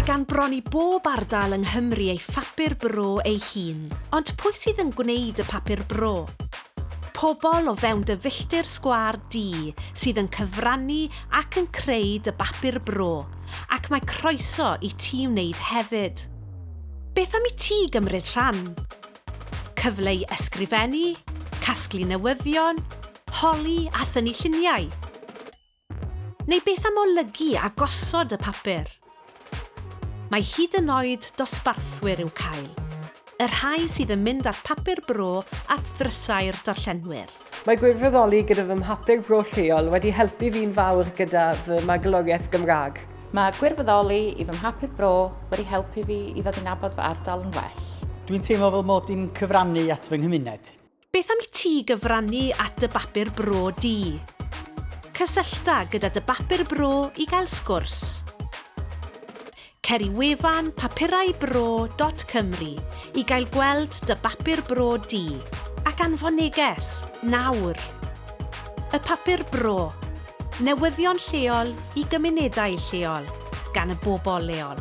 Mae gan bron i bob ardal yng Nghymru ei phapur bro ei hun, ond pwy sydd yn gwneud y papur bro? Pobl o fewn dy filltir sgwâr di sydd yn cyfrannu ac yn creu dy bapur bro, ac mae croeso i ti wneud hefyd. Beth am i ti gymryd rhan? Cyfle i ysgrifennu, casglu newyddion, holi a thynnu lluniau? Neu beth am olygu a gosod y papur? Mae hyd yn oed dosbarthwyr i'w cael, y rhai sydd yn mynd â'r papur bro at ddrysau'r darllenwyr. Mae gwirfoddoli gyda fy mhapur bro lleol wedi helpu fi'n fawr gyda fy magwloriaeth Gymraeg. Mae gwirfoddoli i fy mhapur bro wedi helpu fi i ddod i nabod fy ardal yn well. Dwi'n teimlo fel mod i'n cyfrannu at fy nghymuned. Beth am i ti gyfrannu at dy bapur bro di? Cysyllta gyda dy bapur bro i gael sgwrs. Cer i wefan papuraibro.cymru i gael gweld dy bapur bro di, ac anfon neges, nawr! Y Papur Bro, newyddion lleol i gymunedau lleol, gan y bobl leol.